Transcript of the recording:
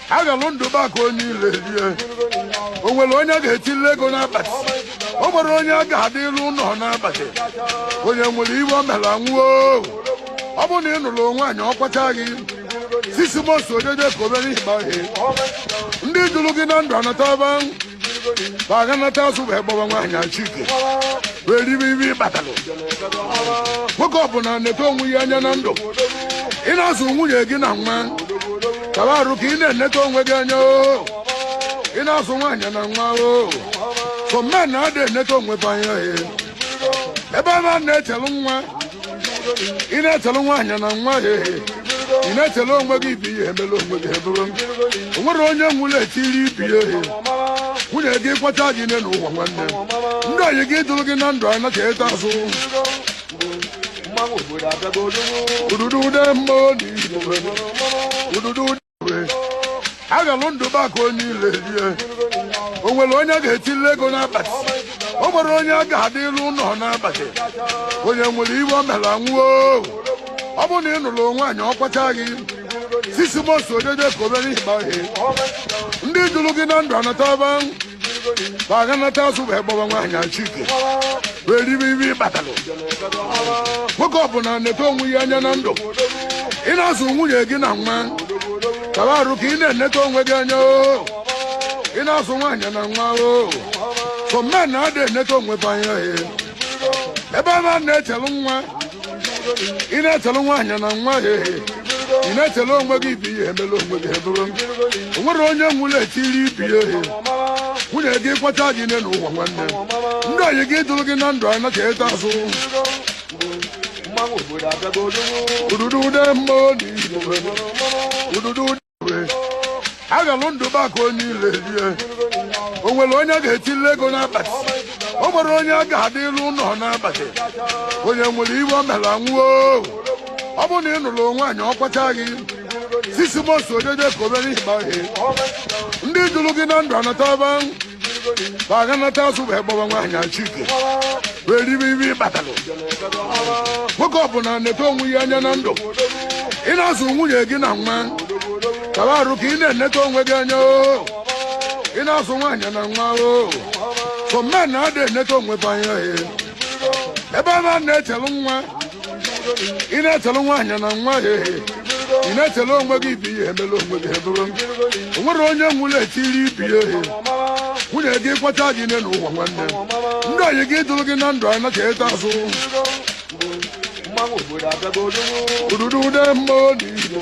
agalụ ndụ maka onye ile rie o nwere onye ga-echili ego n'abalị o nwere onye a ga-adị ilu ụlọ n'abalị onye nwere ife o mere nwụọ ọ bụrụ na ị nụrụ nwaanyị ọ kwacha gị six months o jeje ka obere ịgba ihe ndị jụrụ gị na ndụ anataba ba ga-anata azụ wee gbaba nwaanyị achike wee ribe ife ị kpatalụ nwoke ọbụla neta onwe ya anya na ndụ ị na-azụ nwunye gị na nwa kaba arụ ka ị na-eneta onwe gị anya oo ị na-azụ nwaanyị na nwa oo some men ada eneta onwe ba anya ee ebe ba na-echelu nwa ị na-echelu nwaanyị na nwa ya ehe ị na-echelu onwe gị ife i mere onwe gị i buru o nwere onye nwụrụ e chiri ife ya ehe nwunye gị kwacha gị nne n'ụwa nwanne ndị enyi gị jụrụ gị na ndụ anachata azụ ududu ude mmụọ na igbo ududu agalụ ndụ baka onye ile rie o nwere onye ga-echili ego n'abalị o nwere onye a ga-adị ilu ụlọ n'abalị onye nwere ife o mere nwụọ ọ bụrụ na ị nụrụ nwaanyị ọ kwacha gị six months o jeje ka obere ịgba ihe ndị jụrụ gị na ndụ anataba ba ga-anata azụ wee gbaba nwaanyị achike wee ribe ife ị kpatalụ nwoke ọbụla neta onwe ya anya na ndụ ị na-azụ nwunye gị na nwa kaba arụ ka ị na-eneta onwe gị anya oo ị na-azụ nwaanyị na nwa oo some men ada eneta onwe ba anya ebe ba na-echelu nwa ị na-echelu nwaanyị na nwa ya ehe ị na-echelu onwe gị ife i mere onwe gị i buru o nwere onye nwụrụ e chiri ife ya ehe nwunye gị kwacha gị nne n'ụwa nwanne ndị enyi gị jụrụ gị na ndụ anachata azụ ududu ude mmụọ na igbo ududu agalụ ndụ baka onye ile rie o nwere onye ga-echili ego n'abalị o nwere onye a ga-adị ilu ụlọ n'abalị onye nwere ife o mere nwụọ ọ bụrụ na ị nụrụ nwaanyị ọ kwacha gị six months o jeje ka obere ịgba ihe ndị jụrụ gị na ndụ anataba Ba ga-anata azụ wee gbaba nwaanyị achike. Wee ribe ife ị kpatalụ. Nwoke ọbụla neta onwe ya anya na ndụ. Ị na-azụ nwunye gị na nwa. Kaba arụ ka ị na-eneta onwe gị anya o. Ị na-azụ nwaanyị na nwa o. Some men ada eneta onwe ba anya e. Ebe ba na-echelu nwa. ị na-echelu nwaanyị na nwa ya ehe ị na-echelu onwe gị ife i mere onwe gị i buru o nwere onye nwụrụ e chiri ife ya ehe nwunye gị kwacha gị nne n'ụwa nwanne ndị enyi gị jụrụ gị na ndụ anachata azụ ududu ude mmụọ na igbo